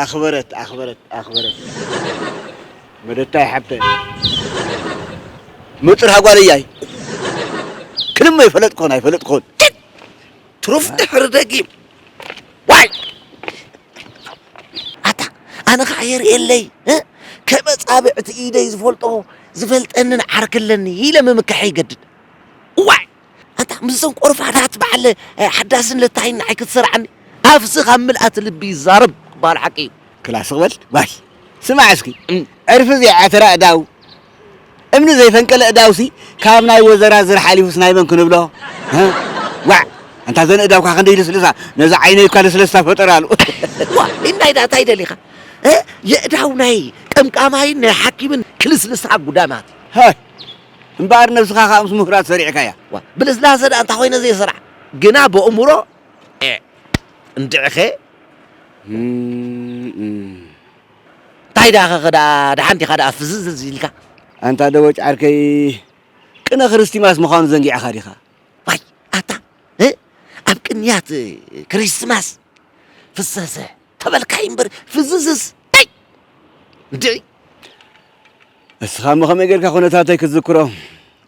ኣኽበረት ኣኽበረት ኣኽበረት መደታይ ሓብተይ መጥርሃ ጓል እያይ ክልም ኣይፈለጥኮን ኣይፈለጥኮን ትሩፍ ድሕሪ ደጊም ዋይ ኣታ ኣነ ከዓ የርእየለይ እ? ከም ኣጻብዕቲ ኢደይ ዝፈልጦ ዝፈልጠንን ዓርኪ ኣለኒ ኢለ ምምካሐ ይገድድ ዋይ ኣታ ምስዘን ቆርፋዳት በዓል ሓዳስን ለታይን ንዓይ ክትሰርዓኒ ኣፍሲ ካብ ምልኣት ልቢ ይዛረብ ክበሃል ሓቂ እዩ። ክላ ስቕ በል ጓል ስማዕ እስኪ ዕርፊ ዘይዓተረ ኣእዳው እምኒ ዘይፈንቀለ እዳውሲ ካብ ናይ ወዘራ ዝር ሓሊፉስ ናይ መን ክንብሎ ዋዕ ኣንታ ዘን እዳውካ ክንደይ ልስልሳ ነዚ ዓይነይ እኳ ልስለስታ ፈጠራሉ ዋ ኢንዳይ ዳታ ይደሊኻ የእዳው ናይ ቀምቃማይን ናይ ሓኪምን ክልስልሳ ጉዳማት ሃይ እምበኣር ነብስኻ ከኣ ምስ ምሁራት ሰሪዕካያ። ዋእ ብልስላሰ ደኣ እንታይ ኮይነ ዘይሰራሕ ግና በእሙሮ ኤእ እንድዒኸ እም እንታይ ደኣ ከከ ደኣ ደሓን ዲኻ ደኣ ፍዝዝዝ ኢልካ። ኣንታ ደቦጭ ዓርከይ ቅነ ክርስቲማስ ምዃኑ ዘንጊዕኻ ዲኻ? ዋይ ኣታ እ ኣብ ቅንያት ክሪስትማስ ፍዘዘ ተበልካይ እምበር ፍዝዝዝ ታይ እንድዒ። እስኻ እሞ ከመይ ጌርካ ኩነታተይ ክትዝክሮ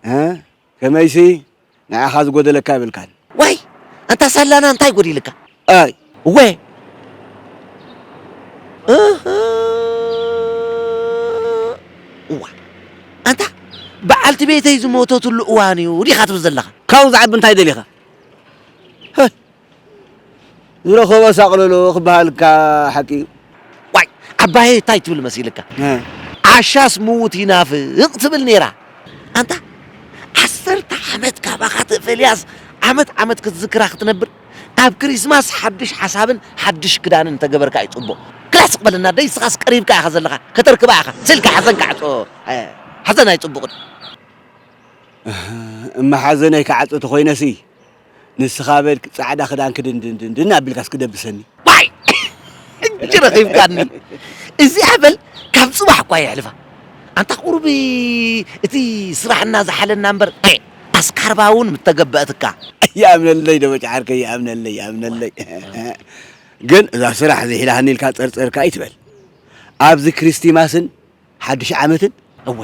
እ ከመይሲ ንዓኻ ዝጎደለካ የብልካን። ዋይ ኣንታ ሳላና እንታይ ጎዲልካ ኣይ። እወ እህ እዋ ኣንታ በዓልቲ ቤተይ ዝሞተትሉ እዋን እዩ ዲኻ ትብል ዘለኻ። ካብኡ ዝዓቢ እንታይ ደሊኻ? ዝረኸቦ ሳቕልሉ ክበሃል እካ ሓቂ እዩ። ዋይ ዓባየይ እታይ ትብል መሲልካ ዓሻስ ምዉት ይናፍቅ ትብል ነይራ ኣንታ ዓሰርተ ዓመት ካባካ ተፈልያስ ዓመት ዓመት ክትዝክራ ክትነብር ኣብ ክሪስማስ ሓዱሽ ሓሳብን ሓዱሽ ክዳንን እንተገበርካ እዩ ጽቡቅ ክላስቅ በለና ኣደይ ንስካስ ቀሪብካ ኢካ ዘለካ ከተርክባ ኢካ ስልካ ሓዘን ካዕጾ ሓዘን ኣይጽቡቅን እህ እማ ሓዘነይ ክዓጹ ተኮይነሲ። ንስኻ በል ጻዕዳ ክዳን ክድንድንድንድን ኣቢልካስ ክደብሰኒ ዋይ ሕጂ ረኺብካኒ እዚኣ በል ካብ ጽባሕ እኳ የሕልፋ ኣንታ ቁሩብ እቲ ስራሕና ዝሓለና እምበር ኣስካርባ እውን ምተገበእትካ ይኣምነለይ ደበጭ ዓርከይ ይኣምነለይ ይኣምነለይ ግን እዛ ስራሕ ዝሒላሃኒ ኢልካ ጸርጸርካ ኣይትበል ኣብዚ ክሪስቲማስን ሓድሽ ዓመትን እወ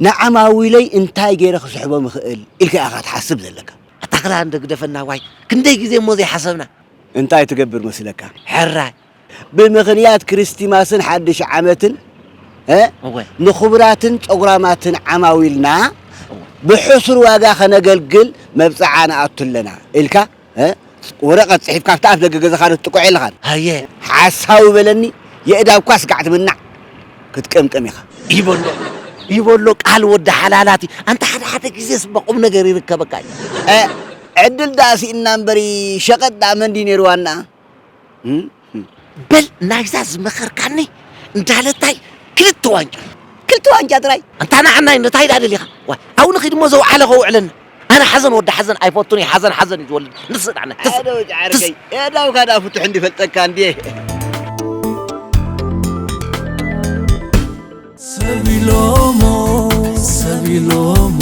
ንዓማዊለይ እንታይ ገይረ ክስሕቦም ይኽእል ኢልካ ኢኻ ትሓስብ ዘለካ። ኣታ ክላ እንዶ ግደፈና ዋይ ክንደይ ግዜ እሞ ዘይሓሰብና። እንታይ ትገብር መስለካ ሕራይ ብምኽንያት ክሪስቲማስን ሓድሽ ዓመትን እ እወ ንኽቡራትን ጸጉራማትን ዓማዊልና እወ ብሕሱር ዋጋ ከነገልግል መብጽዓ ንኣቱ ኣለና ኢልካ ወረቐት ጽሒፍካ ኣብቲ ኣፍ ደገ ገዛኻ ዶ ትጥቅዖ የለኻን? ኣየ ሓሳዊ በለኒ የእዳውካ ስጋዕ ትምናዕ ክትቅምቅም ኢኻ። ይበሎ ይበሎ ቃል ወዲ ሓላላት እዩ ኣንታ ሓደ ሓደ ግዜስ እባ ቁም ነገር ይርከበካ እዩ። ዕድል ደኣ ሲኢንና እምበሪ ሸቀጥ ደኣ መን ድዩ ነይሩ ዋንኣ። በል ናይዛ ዝመኸርካኒ እንዳለታይ ክልተ ዋንጫ ክልተ ዋንጫ ጥራይ እንታ ንዓና እንታይ ደኣ ደሊኻ ዋይ ኣብኡ ንኺድ እሞ ዘውዓለ ከውዕለኒ ኣነ ሓዘን ወዲ ሓዘን ኣይፈቱን እዩ ሓዘን ሓዘን እዩ ዝወልድ ንስ ደኣ ሓደ ወዲ ዓርከይ የዳውካ ደኣ ፍቱሕ እንዲፈልጠካ እንድየ ሰብ ኢሎሞ ሰብ ኢሎሞ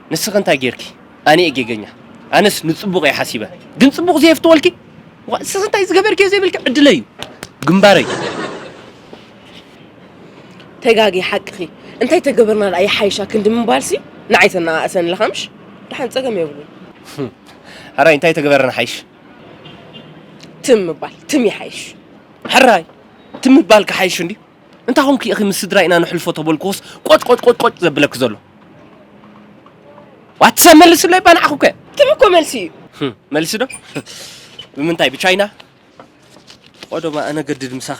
ንስኺ እንታይ ጌርኪ ኣነ'የ ጌገኛ ኣነስ ንጽቡቕ'የ ሓሲበ ግን ጽቡቕ ዘየፍትወልኪ ዋእ ንስኺ እንታይ ዝገበርክዮ ዘይብልኪ ዕድለይ'ዩ ግንባረይ ተጋግየ ሓቅኺ እንታይ ተገበርና ደኣ ይሓይሻ ክንዲ ምባልሲ ንዓይ ተነኣእሰኒ ኣለኻ ምሽ ደሓን ጸገም የብሉን ሕራይ እንታይ ተገበርና ሓይሽ ትም ምባል ትም ይሓይሽ ሕራይ ትም ምባል ክሓይሽ እንድዩ እንታይ ኮንኪ ኢኺ ምስ ስድራይ ኢና ነሕልፎ ተበልክዎስ ቆጭቆጭቆጭቆጭ ዘብለኪ ዘሎ? ዋት ሰብ መልስለይ እባ ንዓኹ ከ ትም እኮ መልሲ እዩ። ህም፣ መልሲ ዶ ብምንታይ ብቻይና ቆዶማ ኣነገድድ ምሳኺ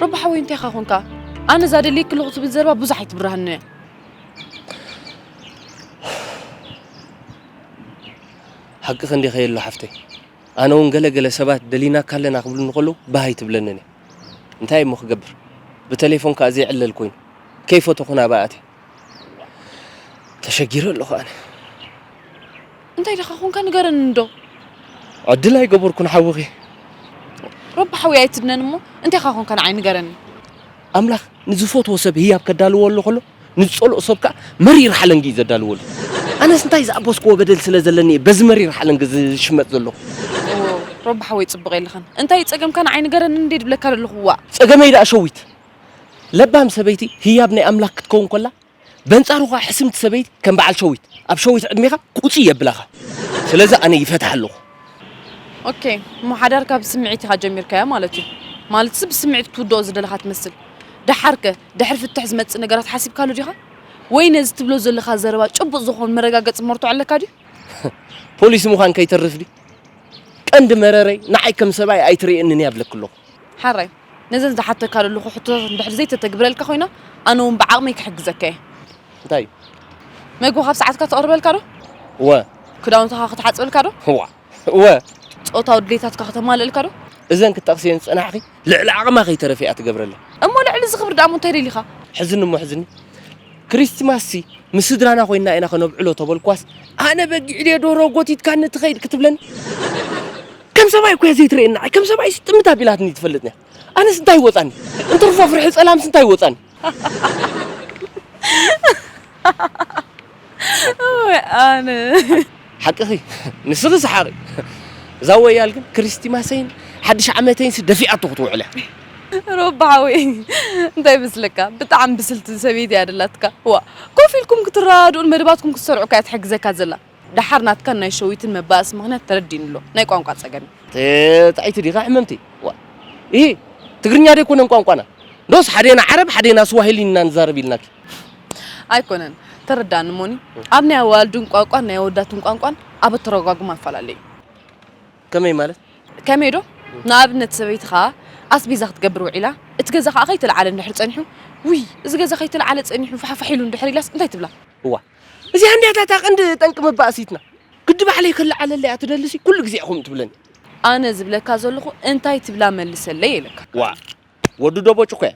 ሮባ ሓወይ እንታይ ኢኻ ኮንካ ኣነ እዛ ደልየ ክልኹ ትብል ዘረባ ብዙሕ ኣይትብርሃኒ እያ ሓቂ ክንዲ ከየሎ ሓፍተይ ኣነ እውን ገለገለ ሰባት ደሊናካ ኣለና ክብሉ እንከለዉ ባህ ኣይትብለንን እያ እንታይ እሞ ክገብር ብተሌፎን ከኣ ዘይዕለል ኮይኑ ከይፈተኹ ናብኣ ኣትየ ተሸጊረ ኣለኹ ኣነ እንታይ ደኻ ኮንካ ንገረኒ እንዶ ዕድል ኣይገበርኩን ሓውኺ ረቢ ሓውይ ኣይትድነን እሞ እንታይኻ ኮንካ ንዓይ ንገረኒ ኣምላኽ ንዝፈትዎ ሰብ ህያብ ከዳልዎ ኣሎ ከሎ ንዝጸልኦ ሰብ ከኣ መሪር ሓለንጊ እዩ ዘዳልወሉ። ኣነስ እንታይ ዝኣበስክዎ በደል ስለ ዘለኒ እየ በዚ መሪር ሓለንጊ ዝሽመጥ ዘለኹ። ኦው ሮቢ ሓወይ ጽቡቅ የለኻን እንታይ እዩ ጸገምካ ንዓይ ንገረኒ እንድየ ድብለካ ደለኹ ዋእ። ጸገመይ ደኣ ሸዊት ለባም ሰበይቲ ህያብ ናይ ኣምላክ ክትከውን ኮላ በንጻሩ ከኣ ሕስምቲ ሰበይቲ ከም በዓል ሸዊት ኣብ ሸዊት ዕድሜካ ቁጺ የብላካ ስለዚ ኣነ ይፈትሓ ኣለኩ። ኦኬ እሞ ሓዳርካ ብስምዒት ኢኻ ጀሚርካዮ ማለት እዩ ማለትሲ ብስምዒት ክትውድኦ ዝደለኻ ትመስል ደሓርከ? ድሕሪ ፍትሕ ዝመጽእ ነገራት ሓሲብካሉ ዲኻ? ወይ ነዚ ትብሎ ዘለኻ ዘረባ ጭቡጥ ዝኾን መረጋገጺ መርትዖ ኣለካ ድዩ? ፖሊስ ምዃን ከይተርፍ ድዩ? ቀንዲ መረረይ ንዓይ ከም ሰብኣይ ኣይትርእየንን እያ እብለኪ ኣለኹ። ሓራይ ነዘን ዝሓተካ ዘለኹ ሕቶታት እንድሕሪ ዘይተተግብረልካ ኮይና ኣነ እውን ብዓቕመይ ክሕግዘካ እየ። እንታይ? መግቢ ካብ ሰዓትካ ተቕርበልካ ዶ? እወ። ክዳውንትኻ ክትሓጽበልካ ዶ? እዋ። እወ። ጾታዊ ድሌታትካ ከተማልእልካ ዶ? እዘን ክትጠቕስየን ዝጸናሕኺ ልዕሊ ዓቕማ ከይተረፈ እያ ትገብረለን። እሞ ልዕሊ እዚ ክብሪ ደኣሞ እንታይ ደሊኻ? ሕዝኒ እሞ ሕዝኒ። ክሪስትማስሲ ምስ ስድራና ኮይንና ኢና ከነብዕሎ ተበልኩዋስ፣ ኣነ በጊዕ ድየ ደርሆ ጎቲትካኒ ትኸይድ ክትብለኒ? ከም ሰብኣይ እኮ'ያ ዘይትርእየኒ ንዓይ። ከም ሰብኣይሲ ጥምት ኣቢላትኒ ትፈልጥን'ያ። ኣነስ እንታይ ይወጻኒ? እንትርፎ ፍርሒ ጸላምሲ እንታይ ይወጻኒ? ወይ ኣነ ሓቅኺ ንስኺ ሰሓቂ እዛ ወያል ግን ክርስቲማሰይን ሓድሽ ዓመተይን ደፊኣቶ ክትውዕል እያ ሮባ ሓወይ እንታይ ይመስለካ ብጣዕሚ ብስልቲ ሰበይቲ እያ ደላትካ ዋ ኮፍ ኢልኩም ክትረዳድኡን መደባትኩም ክትሰርዑ እያ ትሕግዘካ ዘላ ደሓር ናትካን ናይ ሸዊትን መባእሲ ምኽንያት ተረዲእኒ ኣሎ፣ ናይ ቋንቋ ጸገም እዩ። ጥዕይቲ ዲኻ ሕምምቲ? ዋእ ኢሂ ትግርኛ ዶ ኣይኮነን ቋንቋና? ዶስ ሓዴና ዓረብ ሓዴና ስዋሂሊ ኢና ንዛረብ ኢልናኪ? ኣይኮነን ተረዳኣኒ እሞኒ ኣብ ናይ ኣዋልድን ቋንቋን ናይ ኣወዳትን ቋንቋን ኣብ ኣተረጓጉማ ኣፈላለይ እዩ። ከመይ ማለት? ከመይ ዶ ንኣብነት ሰበይትኻ ኣስቤዛ ክትገብር ውዒላ እቲ ገዛ ከኣ ከይተልዓለ እንድሕር ጸኒሑ ውይ እዚ ገዛ ከይተልዓለ ጸኒሑ ፋሕፋሕ ኢሉ እንድሕር ኢላስ እንታይ ትብላ? እዋ እዚኣ እንድያ እታ ቀንዲ ጠንቂ መባእሲትና። ግዲ ባዕለይ ክለዓለላ እያ ትደልሲ ኩሉ ግዜ ኢኹም ትብለኒ። ኣነ ዝብለካ ዘለኹ እንታይ ትብላ መልሰለይ ኢለካ። ዋእ ወዲ ዶቦጭ እኮ እያ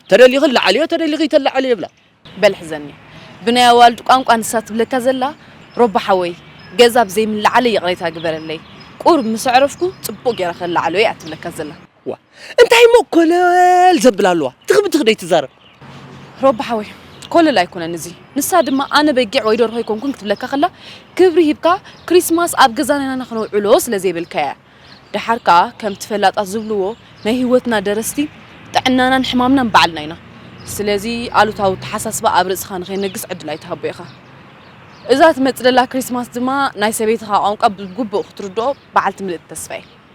ተደሊኺ ለዓልዮ ተደሊኺ ኣይተለዓልዮ ይብላ። በል ሕዘኒ ብናይ ኣዋልድ ቋንቋ ንሳ ትብለካ ዘላ ሮቢ ሓወይ ገዛ ብዘይምለዓለይ ይቕሬታ ግበረለይ ቁሩብ ምስ ኣዕረፍኩ ጽቡቕ ጌረ ከለዓሎ እያ ትብለካ ዘላ። ዋእ እንታይ እሞ ኮለል ዘብል ኣለዋ ትኽብ ትኽ ደይትዛረብ ሮቢ ሓወይ ኮለል ኣይኮነን እዚ ንሳ ድማ ኣነ በጊዕ ወይ ደርሆ ኣይኮንኩን ክትብለካ ከላ ክብሪ ሂብካ ክሪስማስ ኣብ ገዛና ኢና ክነውዕሎ ስለ ዘይበልካ እያ ደሓር ከኣ ከምቲ ፈላጣት ዝብልዎ ናይ ህይወትና ደረስቲ ጥዕናናን ሕማምናን ባዕልና ኢና ስለዚ ኣሉታዊ ተሓሳስባ ኣብ ርእስኻ ንኸይነግስ ዕድል ኣይትሃቦ ኢኻ እዛ ትመጽእ ዘላ ክሪስማስ ድማ ናይ ሰበይትኻ ቋንቋ ብግቡእ ክትርድኦ በዓልቲ ምልእቲ ተስፋ እየ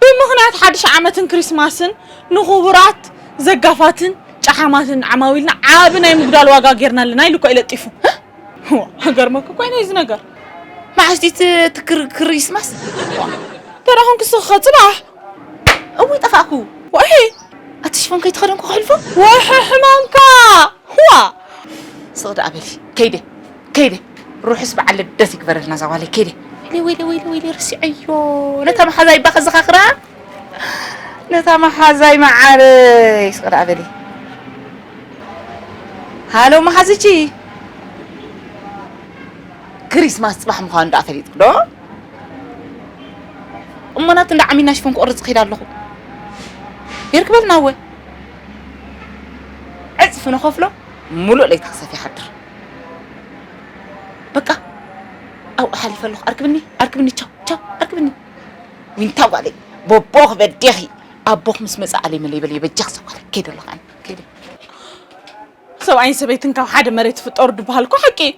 ብምኽንያት ሓድሽ ዓመትን ክሪስማስን ንኹቡራት ዘጋፋትን ጨሓማትን ዓማዊልና ዓቢ ናይ ምጉዳል ዋጋ ጌርና ኣለና ኢሉ እኳ እዩ ለጢፉ። እዋ ክገርመኩ እኳ እዩ ናይዚ ነገር። መዓስ ድዩ እቲ እቲ ክር- ክሪስማስ? እንተ ደኣ ኹንክስ ክቐጽል ኣሕ እውይ ጠፋእኩ። ወሒ ኣቲ ሽፎን ከይተኸደንኩ ከሕልፎ? ወሒ ሕማምካ! እዋ ስቕ ደኣ በሊ ከይደ ከይደ ሩሑስ በዓል ልደት ይግበረልና እዛ ጓለይ ከይደ ወይለይ ወይለይ ወይለይ ወይለይ ረሲዐዮ ነታ መሓዛይ እባ ከዘኻኽራ ነታ መሓዛይ መዓረይ ስቕ ደኣ በሊ ሃሎ መሓዝቺ ክሪስማስ ጽባሕ ምዃኑ ደኣ ፈሊጥክ ዶ እሞናት እንዳ ዓሚና ሽፎን ክቕርጽ ክይድ ኣለኹ የርክበልና እወ ዕፅፊ ንኸፍሎ ሙሉእ ለይቲ ክሰፍ ይሓድር በቃ ኣብኡ ሓሊፈ ኣለኹ ኣርክብኒ ኣርክብኒ ቻው ቻው ኣርክብኒ ዊንታ ጓለይ ቦቦኽ በዴኺ ኣቦኽ ምስ መፀ ኣለይ መለይ በለይ በጃኽ ሰጓለ ከይደ ኣለኹ ኣነ ከይደ ሰብኣይን ሰበይትን ካብ ሓደ መሬት ይፍጠሩ ድበሃል እኮ ሓቂ እዩ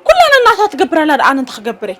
ኩላን እናታ ትገብር ኣላ ደኣ ኣነ እንታይ ክገብር እየ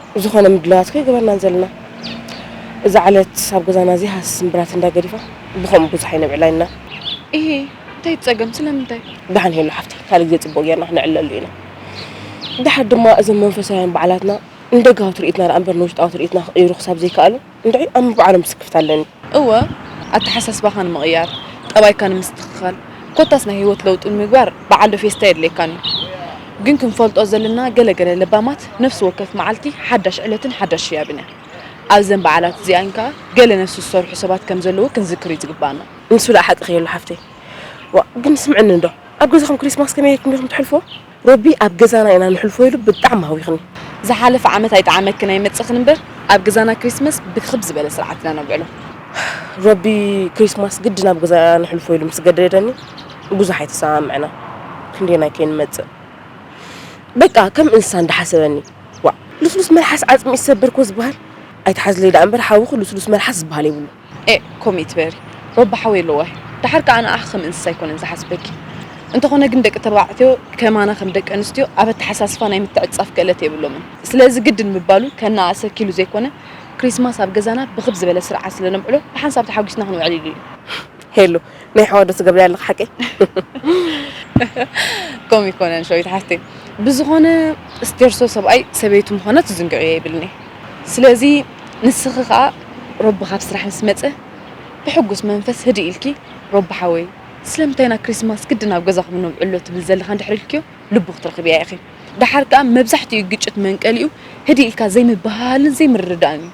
ዝኾነ ምድላዋት ከይገበርና ዘለና እዛ ዕለት ኣብ ገዛና እዚ ሃስ ስምብራት እንዳ ገዲፋ ብኸምኡ ብዙሕ ኣይነብዕላ ኢና። እሂ እንታይ ትጸገም ስለምንታይ? ዳሓን ሄሉ ሓፍተይ ካልእ ግዜ ጽቡቕ ጌርና ክንዕለሉ ኢና። ዳሓር ድማ እዞም መንፈሳውያን በዓላትና ንደጋዊ ትርኢትና ደኣ እምበር ንውሽጣዊ ትርኢትና ክቕይሩ ክሳብ ዘይከኣሉ እንድዒ ኣም ባዕሎም ስክፍታ ኣለኒ። እወ ኣተሓሳስባኻ ንምቕያር፣ ጠባይካ ንምስትኽኻል፣ ኮታስ ናይ ህይወት ለውጢ ንምግባር በዓል ዶ ፌስታ የድልየካን እዩ። ግን ክንፈልጦ ዘለና ገለ ገለ ለባማት ነፍሲ ወከፍ መዓልቲ ሓዳሽ ዕለትን ሓዳሽ ህያብን እያ። ኣብዘን በዓላት እዚኣን ከኣ ገለ ነፍሲ ዝሰርሑ ሰባት ከም ዘለዉ ክንዝክር እዩ ዝግበኣና። ንሱ ደኣ ሓቅኺ የሎ ሓፍተይ። ዋእ ግን ስምዕኒ እንዶ ኣብ ገዛኹም ክሪስማስ ከመይ ኢልኩም ዲኹም ተሕልፍዎ? ሮቢ ኣብ ገዛና ኢና ንሕልፎ ኢሉ ብጣዕሚ ኣህዊኽኒ። ዝሓለፈ ዓመት ኣይጠዓመክን ኣይመጸኽን እምበር ኣብ ገዛና ክሪስመስ ብክብ ዝበለ ስርዓት ኢና ነብዕሎ። ሮቢ ክሪስማስ ግድን ኣብ ገዛይ እያ ንሕልፎ ኢሉ ምስ ገደደኒ ብዙሕ ኣይተሰማምዕናን ክንደየናይ ከይንመጽእ በቃ ከም እንስሳ እንዳሓሰበኒ ዋእ ልስሉስ መልሓስ ዓጽሚ ይሰበር እኮ ዝብሃል ኣይትሓዝለይ ደኣ እምበር ሓውኺ ልስሉስ መልሓስ ዝብሃል የብሉን። ኤእ ኮምኢ ትበሪ ሮባ ሓወይ ኣለዎ ኣሕ ዳሓር ካኣ ንኣኪ ከም እንስሳ ኣይኮነን ዝሓስበኪ እንተኮነ ግን ደቂ ተባዕትዮ ከማና ከም ደቂ ኣንስትዮ ኣብ ኣታሓሳስፋ ናይ ምትዕጽጻፍ ክእለት የብሎምን ስለዚ ግድን ምባሉ ከናኣእሰኪ ኢሉ ዘይኮነ ክሪስማስ ኣብ ገዛና ብክብ ዝበለ ስርዓት ስለ ነብዕሎ ብሓንሳብ ተሓጉስና ክንውዕል ኢሉ እዩ። ሄሉ ናይ ሕዋ ዶ ትገብርያ ኣለኺ ሓቀይ? ከምኡ ኣይኮነን ሸዊት ሓፍተይ፣ ብዝኾነ ስቴርሶ ሰብኣይ ሰበይቱ ምዃና ትዝንግዕዮ የብልኒ። ስለዚ ንስኺ ከኣ ሮቢ ካብ ስራሕ ምስ መጸ ብሕጉስ መንፈስ ህድእ ኢልኪ ሮቢ ሓወይ ስለምንታይ ኢና ክሪስማስ ግድን ኣብ ገዛኹም ነብዕሎ ትብል ዘለኻ እንድሕሪ ኢልክዮ ልቡ ክትረኽብያ ኢኺ። ደሓር ከኣ መብዛሕትኡ ግጭት መንቀሊኡ ህድእ ኢልካ ዘይምብህሃልን ዘይምርድዳእን እዩ።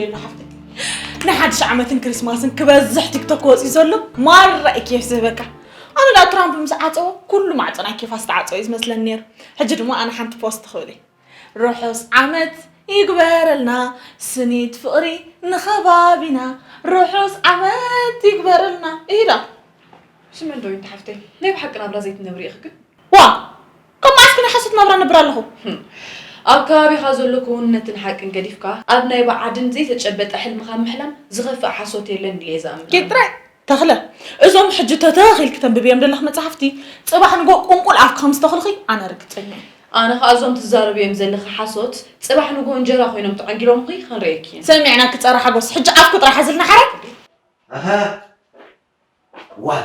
የሉ ሓፍተይ ንሓድሽ ዓመትን ክሪስማስን ክበዝሕ ቲክቶክ ወፂኡ ዘሎ ማራ እዩ ኬፍ ዝህበካ ኣነ ዳ ትራምፕ ምስ ዓፀዎ ኩሉ ማዕፀና ኬፋስ ክዓፀው እዩ ዝመስለኒ ነይሩ ሕጂ ድማ ኣነ ሓንቲ ፖስት ክብል እዩ ርሑስ ዓመት ይግበረልና ስኒት ፍቅሪ ንከባቢና ርሑስ ዓመት ይግበረልና እሂ ደኣ። ስምዒ ዶ ይንተ ሓፍተይ ናይ ብሓቂ ናብራ ዘይትነብሪ ኢኺ ግን። ዋእ ካብ መዓስኪ ናይ ሓሶት ናብራ እነብር ኣለኹ። ኣብ ከባቢኻ ዘሎ ክውንነትን ሓቅን ገዲፍካ ኣብ ናይ ብዓድን ዘይተጨበጠ ሕልምኻ ምሕላም ዝኸፍእ ሓሶት የለን ኢለ'የ ዝኣምን ኣነ። ጌጥ ጥራይ ተኽለ፣ እዞም ሕጂ ተተኽ ኢልኪ ተንብብዮም ዘለኺ መጻሕፍቲ፣ ጽባሕ ንግሆ ቁንቁል ኣፍኪ ከም ዝተኽልኺ ኣነ ርግጸኛ እየ። ኣነ ኸኣ እዞም ትዛረብዮም ዘለኺ ሓሶት፣ ጽባሕ ንግሆ እንጀራ ኮይኖም ተዓንጊሎምኺ ክንርእየኪ እየን። ሰሚዕናኪ ጸረ ሓጎስ፣ ሕጂ ኣፍኪ ጥራሕ ሓዝልና ሓራይ። ኣታ ዋይ!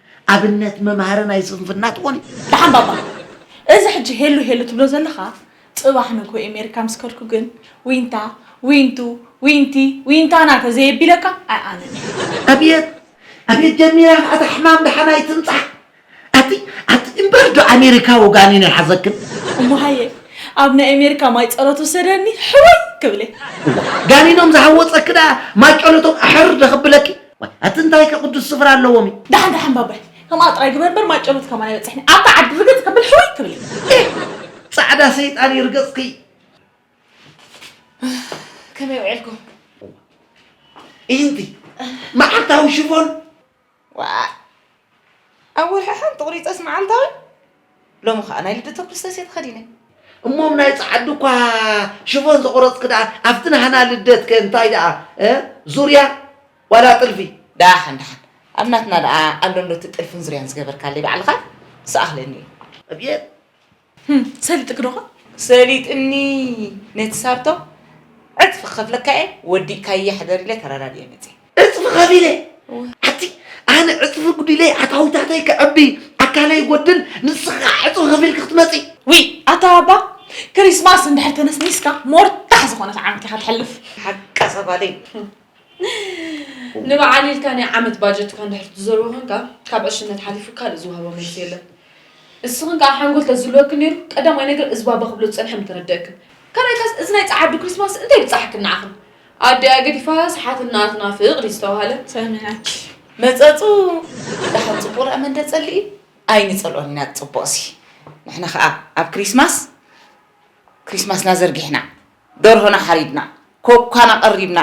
ኣብነት መምሃሪ ናይ ስንፍና ትኾኒ። ደሓን ባባ እዚ ሕጂ ሄሉ ሄሉ ትብሎ ዘለኻ ጽባሕ ንግሆ ኤሜሪካ ምስ ከድኩ ግን ዊንታ ዊንቱ ዊንቲ ዊንታና ተዘየቢለካ ኣይኣምን እየ። ኣብየት ኣብየት ጀሚራ ከኣ እታ ሕማም ደሓን ኣይትምጻእ ኣቲ ኣቲ እምበር ዶ ኣሜሪካዊ ጋኒን ይሓዘክን። እሞ ሃየ ኣብ ናይ ኤሜሪካ ማይ ጸሎት ውሰደኒ ሕውይ ክብልየ። እዋ ጋኒኖም ዝሃወጸኪ ደኣ ማይ ጨሎቶም ኣሕር ዶ ከብለኪ። ኣቲ እንታይከ ቅዱስ ስፍራ ኣለዎም እዩ ዳሓን ዳሓን ባባይ ከምኣ ጥራይ ግበር በር ማጨሎት ከማን ኣይበፅሕኒ ኣብታ ዓዲ ርግፅ ከብል ሕውይ ክብል ፃዕዳ ሰይጣን ይርገፅኪ ከመይ ውዒልኩም ኢንቲ መዓልታዊ ሽፎን ኣብ ወርሒ ሓንቲ ቁሪፀስ መዓልታዊ ሎሚ ከዓ ናይ ልደተ ክርስቶስ እየ ተኸዲነ። እሞም ናይ ጸዓዱ እኳ ሽፎን ዘቑረጽኪ ደኣ ኣብቲ ናህና ልደት ከ እንታይ ደኣ ዙርያ ዋላ ጥልፊ? ደሓን ደሓን ኣብ ናትና ደኣ ኣሎንዶ እቲ ጥልፍን ዙርያን ዝገበርካለይ ባዕልኻ? ምስ ኣኽለኒ እዩ። ኣብየት! ሰሊጥክ ዶኾን? ሰሊጥኒ ነቲ ሳርቶ ዕጽፊ ክኸፍለካ እየ ወዲእካያ ሕደር ኢለ ተረዳዲኤ መጺኤ። ዕጽፊ ከፊለ ኣቲ ኣነ ዕጽፊ ጉዲለ ኣታዊታተይ ከዕቢ ኣካለይ ይጎድል ንስኺ ከኣ ዕጽፊ ከፊልኪ ክትመጺ ውይ ኣታ ኣባ ክሪስማስ እንድሕር ተነስኒስካ ሞርታሕ ዝኾነት ዓመት ኢኻ ተሕልፍ። ሓቃ ሰፋለይ ንበዓል ኢልካ ናይ ዓመት ባጀትካ እንድሕር ትዘርቦ ኮንካ ካብ ዕሽነት ሓሊፉ ካልእ ዝውሃቦ መልሲ የለን ንስኽን ከዓ ሓንጎል ተዝህልወክን ነይሩ ቀዳማይ ነገር እዚ ባባ ክብሎ ዝፀንሐ ምተረደእክን ካልኣይ ካስ እዚ ናይ ፀዓዱ ክሪስማስ እንታይ ብፃሓክን ንዓኽን ኣዲኣ ገዲፋ ሰሓት እናትና ፍቕድ እዩ ዝተባሃለ ሰሚናች መፀፁ ዳሓን ፅቡቕ ርኣ መንደ ፀልኢ ኣይንፀልኦን ኢና ፅቡቕሲ ንሕና ከዓ ኣብ ክሪስማስ ክሪስማስና ዘርጊሕና ደርሆና ሓሪድና፣ ኮኳና ቀሪብና፣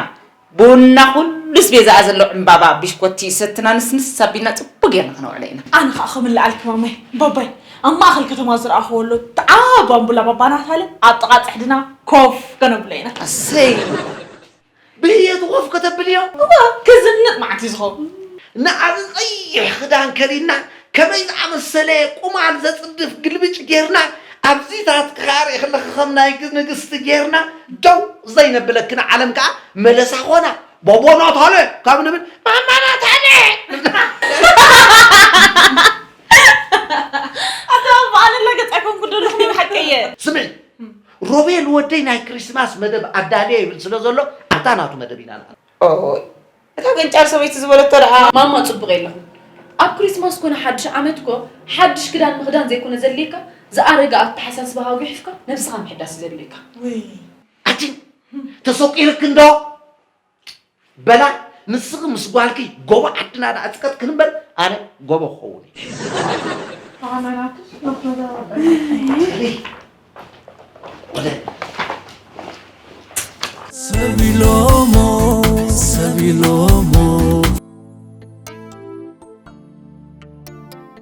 ቡንና ኩሉ ኣስቤዛኣ ዘሎ ዕምባባ ቢሽኮቲ ሰትና ንስንስ ኣቢልና ጽቡቕ ጌርና ከነውዕሎ ኢና። ኣነ ከኣ ከም እለዓልኪ ማማይ ባባይ ኣብ ማእከል ከተማ ዝረኣኽዎ ኣሎ እቲ ዓቢ ኣምቡላ ባባ ናታለ ኣብ ጥቓ ጽሕድና ኮፍ ከነብሎ ኢና። ኣሰይ ብህየቱ ኮፍ ከተብልዮ? እወ፣ ከዘንጥ መዓት እዩ ዝኸውን። ንኣዚ ቐይሕ ክዳን ከዲና ከመይ ዝኣመሰለ ቁማል ዘጽድፍ ግልብጭ ጌርና ኣብዚታት ክካርእ ከለኺ ከም ናይ ንግስቲ ጌርና ደው ዘይነብለኪ ንዓለም ከኣ መለሳ ኮና ባባ ናታለ ካብ ንብል ማማ ናታለ ኣታ በዓል ኣላገጽ ኣይኮንኩ ደለኹ ናይ ብሓቂ እየ ስምዒ ሮቤል ወደይ ናይ ክሪስማስ መደብ ኣዳልየ ይብል ስለ ዘሎ ኣብታ ናቱ መደብ ኢና ንኣቱ። ኦይ እታ ገንጫል ሰበይቲ ዝበለቶ ደኣ። ማማ ጽቡቕ የለኹን ኣብ ክሪስማስ ኮነ ሓድሽ ዓመት እኮ ሓድሽ ክዳን ምኽዳን ዘይኮነ ዘድልየካ ዝኣረገ ኣተሓሳስባኻ ጉሒፍካ ነብስኻ ምሕዳስ እዩ ዘድልየካ። ውይ ኣቲ ተሰቂርኪ እንዶ በላ ንስኺ ምስ ጓልኪ ጎቦ ዓድና ደኣ ጽቀጥክን እምበር ኣነ ጎቦ ክኸውን እየ። ሰቢሎሞ ሰቢሎሞ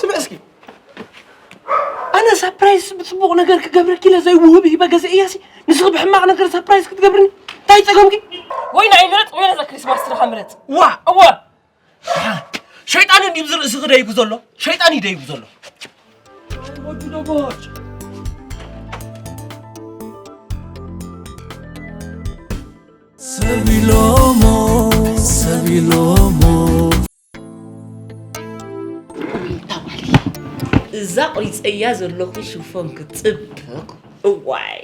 ስምዕ እስኪ ኣነ ሳፕራይዝ ብፅቡቕ ነገር ክገብረኪ ኢለ ዘይውህብ ሂበ ገዘእያሲ ንስኺ ብሕማቕ ነገር ሳፕራይዝ ክትገብርኒ እንታይ ፀገምኪ ወይ ንዓይ ምረፅ ወይ ነዛ ክሪስማስ ስራኻ ምረፅ ዋ እወ ሸይጣን እንዲብዚ ርእሲ ክደይቡ ዘሎ ሸይጣን ይደይቡ ዘሎ ወዱ ደቦች እዛ ቁሪፀያ ዘለኹ ሽፎን ክፅብቅ እዋይ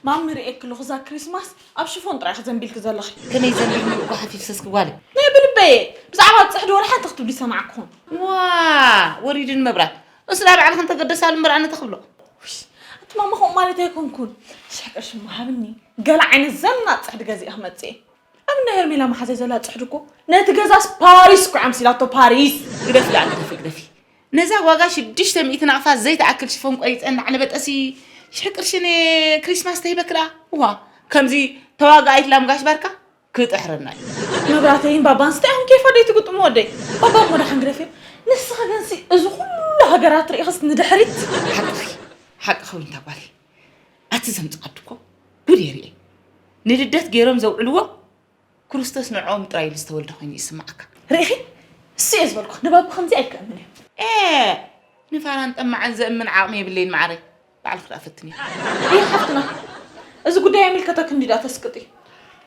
ማሚ ርእየኪ ኣለኹ እዛ ክሪስማስ ኣብ ሽፎን ጥራይ ክዘንቢልኪ ዘለኺ ከመይ ዘንቢል ምልቁ ሓፊፍሰስ ክጓለ ናይ ብልበየ ብዛዕባ ፅሕዲ ወርሓ እንተ ክትብሊ ሰማዕኩኹም ዋ ወሪድን መብራት እሱ ናብ ባዕልክን ተገደሳሉ ምርኣነ ተኽብሎ እቲ ማማ ከምኡ ማለት ኣይኮንኩን ሽሕ ቅርሺ መሃብኒ ገለ ዓይነት ዘናጥ ጽሕዲ ገዚኣ ክመጽእ እየ እምነ ሄርሜላ መሓዘይ ዘላ ጽሕዲ እኮ ነቲ ገዛስ ፓሪስ እኮ ኣምሲላቶ ፓሪስ ግደፊ ኣነ ግደፊ ግደፊ ነዛ ዋጋ ሽዱሽተ ሚእቲ ናቕፋ ዘይትኣክል ሽፎን ቆሪፀ እናዕነበጠሲ ሽሕ ቅርሺ ንክሪስማስ ተሂበክዳ ውሃ ከምዚ ተዋጋኣይት ላምጋሽ ባርካ ክጥሕረና እዩ መብራተይን ባባን ስታይ ኣኹም ኬፋ ደይ ትግጥሙ ወደይ ባባ እሞ ደሓን ግደፍ እዮም ንስኻ ግን ሲ እዚ ኩሉ ሃገራት ርኢኽስ ንድሕሪት ሓቅኺ ሓቅኺ ዊንታ ጓል ኣቲ ዘምፅኣዱ እኮ ጉድ የርኢ ንልደት ገይሮም ዘውዕልዎ ክርስቶስ ንዕኦም ጥራይ ኢሉ ዝተወልደ ኮይኑ ይስማዓካ ርኢኺ እሱ እየ ዝበልኩ ንባብ ከምዚ ኣይከምን እዩ ንፋራን ጠማዕን ዘእምን ዓቕሚ የብለይን ማዕረይ ባዕልኺ ደኣ ፈትንዮ። ኣየ ሓፍትና እዚ ጉዳይ ኣይምልከተክን ድዩ ደኣ ተስቅጢ።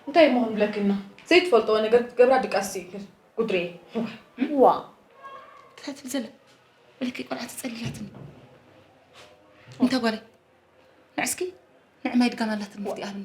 እንታይ እሞ ክንብለኪ እና ዘይትፈልጥዎ ነገር ክትገብራ ድቃስ ስኢንክን ጉድርየ እዋይ። እዋ እንታይ ትብል ዘለ በለኪ ቆልዓ ተጸሊላትኒ እንተ ጓለይ ንዕስኪ ንዕማይ ድጋም ኣላትኒ እስቲ ኣብኒ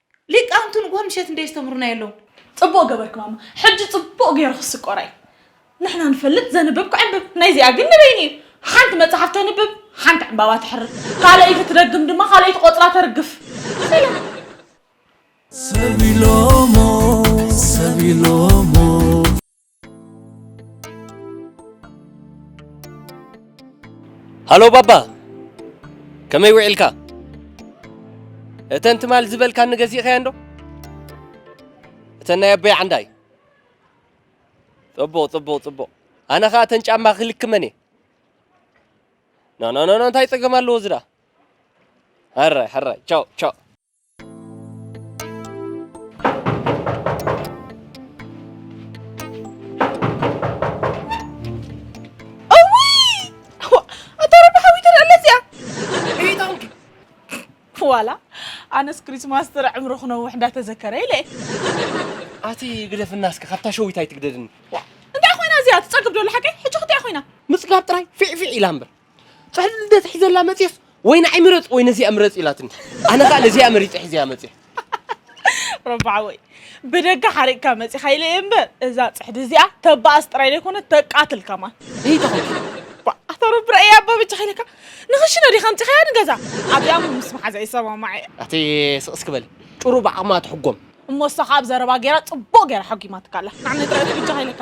ሊቃውንቲ ንግሆ ምሸት እንዶ የስተምህሩና የለውን። ጽቡቅ ገበርኪ ማማ ሕጂ ጽቡቅ ገይሩ ክስቆራ እዩ ንሕና ንፈልጥ ዘንብብ ክዕንብብ ናይ እዚኣ ግን ንበይኑ እዩ ሓንቲ መጽሓፍ ተንብብ ሓንቲ ዕንባባ ትሕርድ ካልኣይቲ ትደግም ድማ ካልኣይቲ ቆጽላ ተርግፍ ሰላም ሰብ ኢሎሞ ሰብ ኢሎሞ ሃሎ ባባ ከመይ ውዒልካ እተን ትማል ዝበልካኒ ገዚእኸያ እንዶ እተን ናይ ኣቦይ ዓንዳይ ጽቡቕ ጽቡቕ ጽቡቕ ኣነ ኸኣ እተን ጫማ ክልክመን እየ ኖኖኖኖ እንታይ ጸገም ኣለዎ ዝዳ ሕራይ ሕራይ ቻው ቻው ዋላ ኣነስ ክሪስማስ ጥረ ዕምሪ ክነውሕ እንዳተዘከረ ኢለ ኣቲ ግደፍና እስከ ካብታ ሸዊት ኣይትግደድኒ እንታይ ኮይና እዚኣ ትፀግብ ዶላ ሓቀይ ሕጂ ክትያ ኮይና ምፅጋብ ጥራይ ፊዕፊዕ ኢላ እምበር ጥሕል እንደ ትሕዘላ መጽፍ ወይ ንዓይ ምረጽ ወይ ነዚኣ ምረጽ ኢላትኒ ኣነ ከኣ ነዚኣ መሪጸ ሒዘያ መጽፍ ረባዓ ወይ ብደገ ሓሪቕካ መጺኻ ኢለ እየ እምበር እዛ ፅሕዲ እዚኣ ተባኣስ ጥራይ ዘይኮነ ተቃትል ከማን ኣታ ረቢ ረኣያ ኣባ በጃኻ ኢለካ ንኽሽነ ዲኻ ኣምፂኻያ ንገዛ ኣብኣ ውን ምስ መሓዛ ይሰማማዕ እየ ኣቲ ስቕስ ክበል ጭሩ ብዓቕማ ትሕጎም እሞ እሳ ካብ ዘረባ ገይራ ፅቡቕ ገይራ ሓጒማትካ ኣላ ናዕ ንጥራይ በጃኻ ኢለካ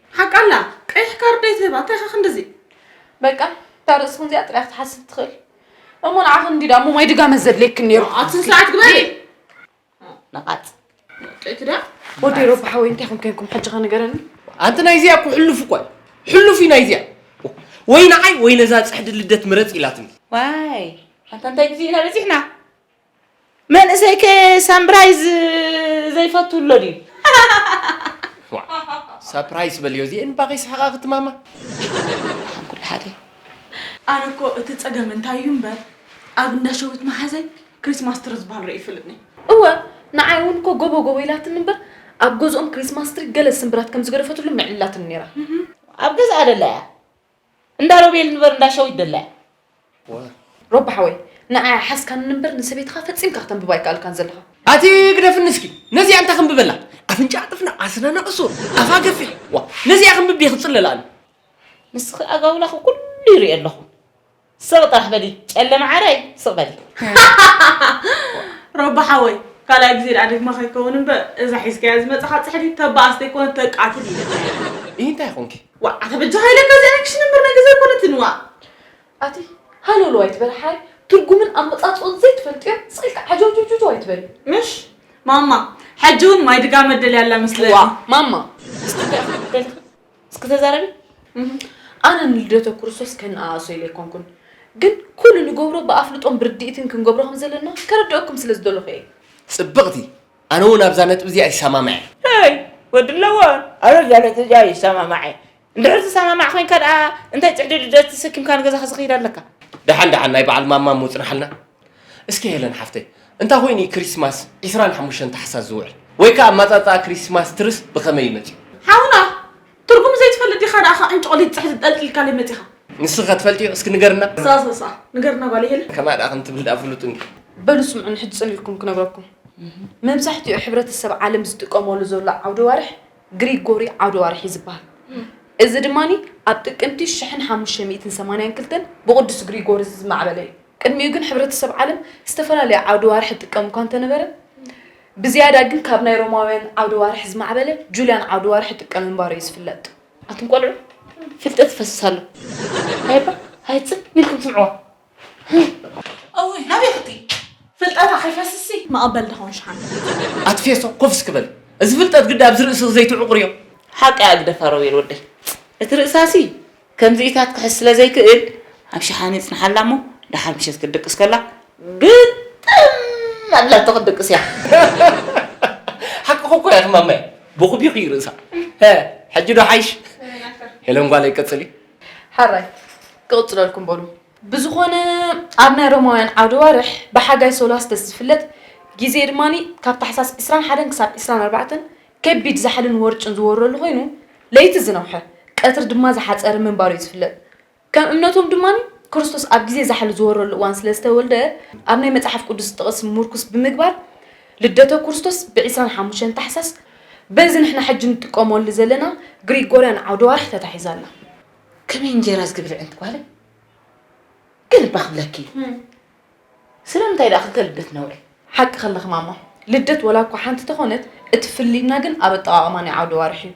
ሓቃ ኣላ ቀይሕ ካርድ ኣይትህባ እንታይ ኢኻ ክንድዚ በቃ እታ ርእስኽን እዚኣ ጥራይ ክትሓስብ ትኽእል እሞ ንዓኽን እንዲ ዳሞ ማይ ድጋመት ዘድልየክን ነይሩ ኣብቲ ስርዓት ግበሪ ነቓጽ ወጤት ዳ ወዲ ሮብ ሓወይ እንታይ ኹም ኮንኩም ሕጂ ኸ ንገረኒ ኣንቲ ናይ እዚኣ እኮ ሕሉፍ እኳ ሕሉፍ እዩ ናይ እዚኣ ወይ ንዓይ ወይ ነዛ ፅሕዲ ልደት ምረፅ ኢላትኒ ዋይ ኣንታ እንታይ ግዜ ኢና በፂሕና መንእሰይ ከ ሳምብራይዝ ዘይፈቱ ኣሎ ድዩ? ሳፕራይስ በልዮ እዚኤን እባ ከይስሕቃ ክትማማ። ንዓኹም ኩሉ ሓደ እዩ። ኣነ እኮ እቲ ጸገም እንታይ እዩ እምበር ኣብ እንዳ ሸዊት መሓዘይ ክሪስማስ ትሪ ዝብሃል ርእየ ኣይፈልጥን እየ። እወ ንዓይ እውን እኮ ጎቦ ጎቦ ኢላትኒ እምበር ኣብ ገዝኦም ክሪስማስ ትሪ ገለ ስምብራት ከም ዝገደፈትሉ ምዕልላትኒ ነይራ። ኣብ ገዝኣ ደላ እያ እንዳ ሮቤል እንበር እንዳ ሸዊት ደላያ። ዋይ ሮቢ ሓወይ ንዓይ ሓዝካኒ እንበር ንሰበይትኻ ፈጺምካ ክተንብባ ኣይከኣልካን ዘለኻ። ኣቲ ግደፍኒ እስኪ ነዚኣ እንታይ ክንብበላ ኣፍንጭኣ ጥፍንቕ ኣስናና ቁሱር ኣፋ ገፊሕ ዋእ ነዚኣ ክንብብ ድየ ክጽለላ ኣነ። ንስኺ ኣጋውላኺ ኩሉ ይሪኦ ኣለኹ ስቕ ጥራሕ በሊ ጨለ መዓረይ ስቕ በሊ። ሮቢ ሓወይ ካልኣይ ግዜ ድኣ ደግማ ከይከውን እንበር እዛ ሒዝካያ ዝመጻኻ ጽሕዲ ተባኣስ ተይኮነት ተቃትል ኢያ። ኢሂ እንታይ ኮንኪ ዋእ ኣታ በጃኻ ኢለካ እዚኣ ናይ ክሽነ እምበር ናይ ገዛ ኣይኮነትን ዋእ። ኣቲ ሃለውለው ኣይትበል ሓይ ትርጉምን ኣመጻጽኦን ዘይትፈልጥዮ ስቅ ኢልካ ዓጀውጀውጀው ኣይትበል። ምሽ ማማ ሕጂ ውን ማይ ድጋ መደል ያላ መስለኒ። ዋእ ማማ እስቲ እንታይ ኢኺ ክትበሊ እስኪ ተዛረቢ። ኣነ ንልደተ ክርስቶስ ከነኣእሶ ኢለ ኣይኮንኩን ግን ኩሉ ንገብሮ ብኣፍልጦን ብርድኢትን ክንገብሮ ከምዘለና ከረድኣኩም ስለዝደለኹ እየ። ጽብቕቲ ኣነ ውን ኣብዛ ነጥቢ እዚኣ ይሰማማዕ እየ። ሄይ ወዲ ለዋን ኣነ ኣብዛ ነጥቢ እዚኣ ይሰማማዕ እየ። እንድሕር ትሰማማዕ ኮንካ ደኣ እንታይ ጽዕድድደት ተሰኪምካ ንገዛኻ ዝኸይድ ኣለካ? ደሓን ደሓን ናይ በዓል ማማ ምጽናሓልና። እስኪ ሄለን ሓፍተይ እንታይ ኮይኑ እዩ ክሪስማስ ዕስራን ሓሙሽተን ታሕሳስ ዝውዕል? ወይ ከኣ ኣመጻጽኣ ክሪስማስ ትርስ ብኸመይ እዩ መጺኡ? ሓውና ትርጉሙ ዘይትፈልጥ ዲኻ ደኣ ካብ ዕንጭቆሊት ጽሕዲ ጠልቂልካለይ መጺኻ። ንስኺኸ ትፈልጥዮ እስኪ ንገርና። ሳሳሳ ንገርና ጓለይ ሄለን። ከምኣ ደኣ ከም ትብል ደኣ ፍሉጥንዩ። በሉ ስምዑኒ ሕጂ ጽሊልኩም ክነግረኩም። መብዛሕትኡ ሕብረተሰብ ዓለም ዝጥቀመሉ ዘሎ ዓውደ ዋርሕ ግሪጎሪ ዓውደ ዋርሕዩ ዝበሃል። እዚ ድማ ኣብ ጥቅምቲ ሽሕን ሓሙሽተ ሚእትን ሰማንያን ክልተን ብቅዱስ ግሪጎሪ ዝማዕበለዩ። ቅድሚኡ ግን ሕብረተሰብ ዓለም ዝተፈላለየ ዓውደ ዋርሕ ይጥቀምኳ እንተነበረ ብዝያዳ ግን ካብ ናይ ሮማውያን ዓውደ ዋርሕ ዝማዕበለ ጁልያን ዓውደ ዋርሕ ይጥቀም ምንባሩ እዩ ዝፍለጥ። ኣቱም ቆልዑ ፍልጠት ይፈስስ ኣሎ ሃይባ ሃይ ጽን ኢልኩም ስምዕዋ። እውይ ናበይ ክትይ ፍልጠታ ከይፈስስሲ መቐበል ዶ ኾን ሽሓነ። ኣቲ ፌሶ ኮፍ እስኪ በል እዚ ፍልጠት ግዳ ኣብዚ ርእስኺ ዘይትዕቑርዮ። ሓቀይ ኣግደፋ ሮቤል ወደይ እቲ ርእሳሲ ከምዚኢታት ክሕዝ ስለ ዘይክእል ኣብ ሸሓኒ ይጽንሓላ እሞ ደሓር ምሸት ክትድቅስ ከላ ግጥም ኣቢላቶ ክትድቅስ እያ። ሓቅኹ እኮ ኢኺ ማማየ ቦኹቢኹ እዩ ርእሳ ሕጂ ዶ ሓይሽ ሄለን ጓለይ ቀጽሊ ሕራይ ክቕጽለልኩም በሉ ብዝኾነ ኣብ ናይ ሮማውያን ዓውደ ዋርሕ ብሓጋይ ሶላስተስ ዝፍለጥ ግዜ ድማ ካብ ታሕሳስ ዕስራን ሓደን ክሳብ ዕስራን ኣርባዕተን ከቢድ ዛሕልን ወርጭን ዝወረሉ ኮይኑ ለይቲ ዝነውሐ ቀትሪ ድማ ዝሓጸረ ምንባሩ እዩ ዝፍለጥ። ከም እምነቶም ድማ ክርስቶስ ኣብ ግዜ ዛሕሊ ዝወረሉ እዋን ስለ ዝተወልደ ኣብ ናይ መጽሓፍ ቅዱስ ጥቕሲ ምርኩስ ብምግባር ልደተ ክርስቶስ ብ ዕስራን ሓሙሽተን ታሕሳስ በዚ ንሕና ሕጂ ንጥቀመሉ ዘለና ግሪጎርያን ዓውደ ወርሒ ተታሒዛ ኣላ። ከመይ እንጀራ ዝግብርዕንቲ ጓለይ ግን እባ ክብለኪ ስለምንታይ ድኣ ክልተ ልደት ነውሪ? ሓቂ ከለኺ ማማ ልደት ወላ እኳ ሓንቲ ተኾነት እቲ ፍልልይና ግን ኣብ ኣጠቓቕማ ናይ ዓውደ ኣዋርሕ እዩ።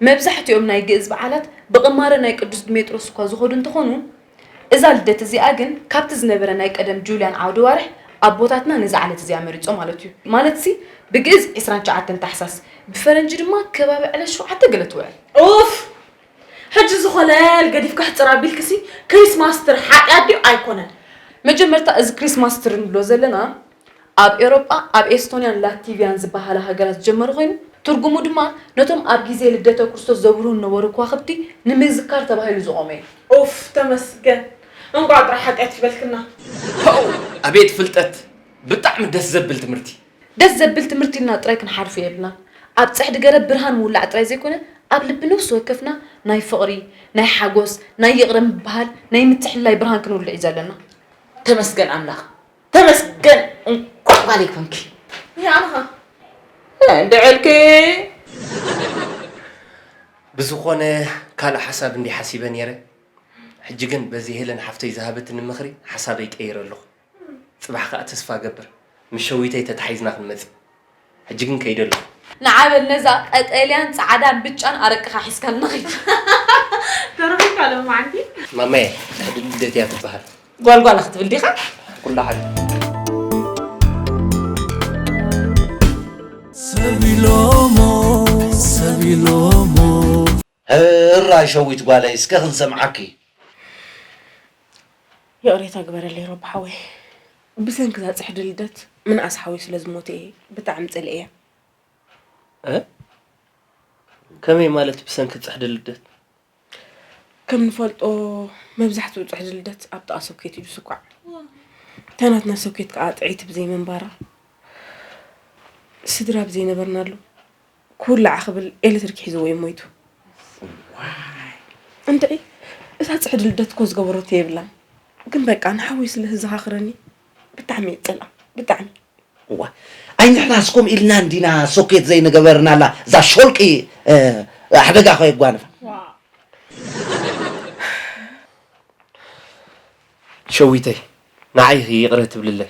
መብዛሕቲኦም ናይ ግእዝ በዓላት ብቕማረ ናይ ቅዱስ ድሜጥሮስ እኳ ዝኾዱ እንተኾኑ እዛ ልደት እዚኣ ግን ካብቲ ዝነበረ ናይ ቀደም ጁልያን ዓውደ ኣዋርሕ ኣቦታትና ነዛ ዕለት እዚኣ መሪጾም ማለት እዩ። ማለትሲ ብግእዝ ዕስራን ትሽዓተን ታሕሳስ ብፈረንጂ ድማ ከባቢ ዕለት ሸውዓተ ገለ ትውዕል። ኡፍ! ሕጂ ዝኾነ ገዲፍካ ሕጽር ኣቢልክሲ ክሪስማስ ትሪ ሓጢኣት ድዩ ኣይኮነን። መጀመርታ እዚ ክሪስማስ ትሪ ንብሎ ዘለና ኣብ ኤሮጳ ኣብ ኤስቶንያን ላቲቭያን ዝበሃላ ሃገራት ዝጀመረ ኮይኑ ትርጉሙ ድማ ነቶም ኣብ ግዜ ልደተ ክርስቶስ ዘብርሁ ዝነበሩ ክዋኽብቲ ንምዝካር ተባሂሉ ዝቖመ እዩ። ኡፍ ተመስገን እንቋዕ ጥራሕ ሓጢኣት ይበልክና። ፖው ኣቤት ፍልጠት ብጣዕሚ ደስ ዘብል ትምህርቲ። ደስ ዘብል ትምህርቲ ኢልና ጥራይ ክንሓልፎ የብልናን። ኣብ ጽሕዲ ገረብ ብርሃን ምውላዕ ጥራይ ዘይኮነ፣ ኣብ ልቢ ነፍሲ ወከፍና ናይ ፍቕሪ፣ ናይ ሓጎስ፣ ናይ ይቕረ ምብሃል፣ ናይ ምትሕልላይ ብርሃን ክንውልዕ እዩ ዘለና። ተመስገን ኣምላኽ ተመስገን እንቋዕ ጓለይ ኮንኪ። ንዓኻ እንድዕልኪ። ብዝኾነ ካልእ ሓሳብ እንድየ ሓሲበ ኔረ ሕጂ ግን በዚ ሄለን ሓፍተይ ዝሃበትኒ ምኽሪ ሓሳበይ ቀይረ ኣለኹ። ጽባሕ ከኣ ተስፋ እገብር ምስ ሸዊተይ ተታሒዝና ክንመጽእ ሕጂ ግን ከይደ ኣለኩ። ንዓ በል ነዛ ቀጠልያን ጻዕዳን ብጫን ኣረቅኻ ሒዝካልና ኺድ። ተረኺብካ ሎምዓንቲ። ማማየ ዳዲ ልደት እያ ትበሃል። ጓል ጓል ክትብል ዲኻ? ኩሉ ሓደ። ሰብ ኢሎሞ ሰብ ኢሎሞ ህራይ ሸዊት ጓለይ እስከ ክንሰምዓኪ። ይቕሬታ ግበረለይ ሮቢ ሓወይ ብሰንኪ እዛ ጽሕዲ ልደት ምንኣስ ሓወይ ስለ ዝሞተ እየ ብጣዕሚ ጸሊኤያ። ከመይ ማለት ብሰንኪ ጽሕዲ ልደት? ከም ንፈልጦ መብዛሕትኡ ጽሕዲ ልደት ኣብ ጥቓ ሶኬት እዩ ዝስኳዕ እታ ናትና ሶኬት ከዓ ጥዒቲ ብዘይምንባራ ስድራ ብዘይነበርናሉ ክውላዕ ክብል ኤሌክትሪክ ሒዝዎ እዩ ሞይቱ። እንድዒ እዛ ፅሕዲ ልደት እኮ ዝገበረቶ የብላን ግን በቃ ንሓወይ ስለ ህዘኻኽረኒ ብጣዕሚ እየ ዝፀልኣ ብጣዕሚ እዋ ኣይ ንሕናስ ከምኡ ኢልና እንዲና ሶኬት ዘይንገበርናላ እዛ ሾልቂ ሓደጋ ከ የጓንፋ ሸዊተይ ንዓይ ይቕረ ትብልለይ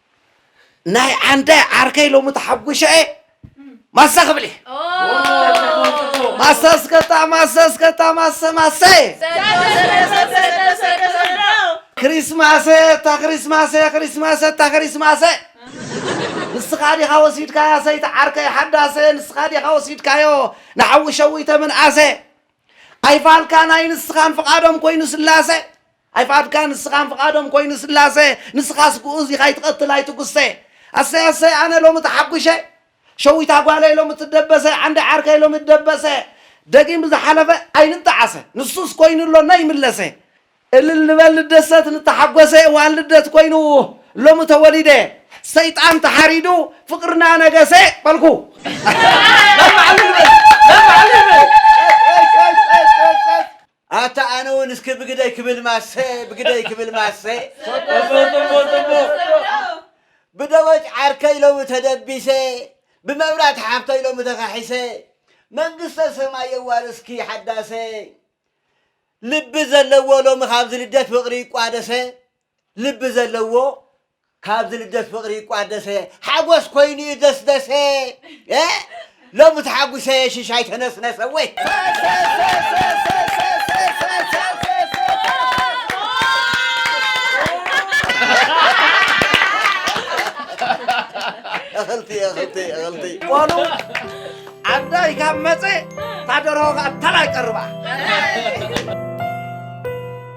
ናይ ዓንዳይ ዓርከይ ሎሚ ተሓጒሸ እየ ማሰ ክብል እየ ማሰ ስከታ ማሰ ስከታ ማሰ ማሰ ክሪስማሰ እታ ክሪስማሰ ክሪስማሰ እታ ክሪስማሰ ንስኻ ዲኻ ወሲድካያ ሰይቲ ዓርከይ ሓዳሰ ንስኻ ዲኻ ወሲድካዮ ንሓዊ ሸዊተ ምንኣሰ ኣይፋልካ ናይ ንስኻን ፍቓዶም ኮይኑ ስላሰ ኣይፍኣድካ ንስኻን ፍቃዶም ኮይኑ ስላሰ ንስኻስ ግኡዝ ኢኻ ኣይትቀትል ኣይትጉሰ ኣሰይ ኣሰይ ኣነ ሎሚ ተሓጉሸ ሸዊታ ጓለይ ሎሚ ትደበሰ ዓንዲ ዓርከይ ሎሚ ትደበሰ ደጊም ብዝሓለፈ ኣይንጣዓሰ ንሱስ ኮይኑ ኣሎ ነይምለሰ እልል ንበል ንደሰት ንተሓጎሰ እዋን ልደት ኮይኑ ሎሚ ተወሊደ ሰይጣን ተሓሪዱ ፍቅርና ነገሰ በልኩ ኣታ ኣነ ውን እስኪ ብግደይ ክብል ማሰ ብግደይ ክብል ማሰ ጽቡቅ ጽቡቅ ጽቡቅ ብደወጭ ዓርከይ ሎሚ ተደቢሰ ብመብራት ሓፍተይ ሎሚ ተኻሒሰ መንግስተ ሰማይ የዋርስኪ ሓዳሰ ልቢ ዘለዎ ሎሚ ካብዚ ልደት ፍቅሪ ይቋደሰ ልቢ ዘለዎ ካብ ዝልደት ፍቅሪ ይቋደሰ ሓጎስ ኮይኑ እዩ ደስደሰ ሎሚ ተሓጉሰ ሽሻይ ተነስነሰ ወይ እኽልቲ እኽልቲ እኽልቲ ቆሉ ዓዳይ ካብ መፀ ታደርሆ ከዓ ተላይ ቀርባ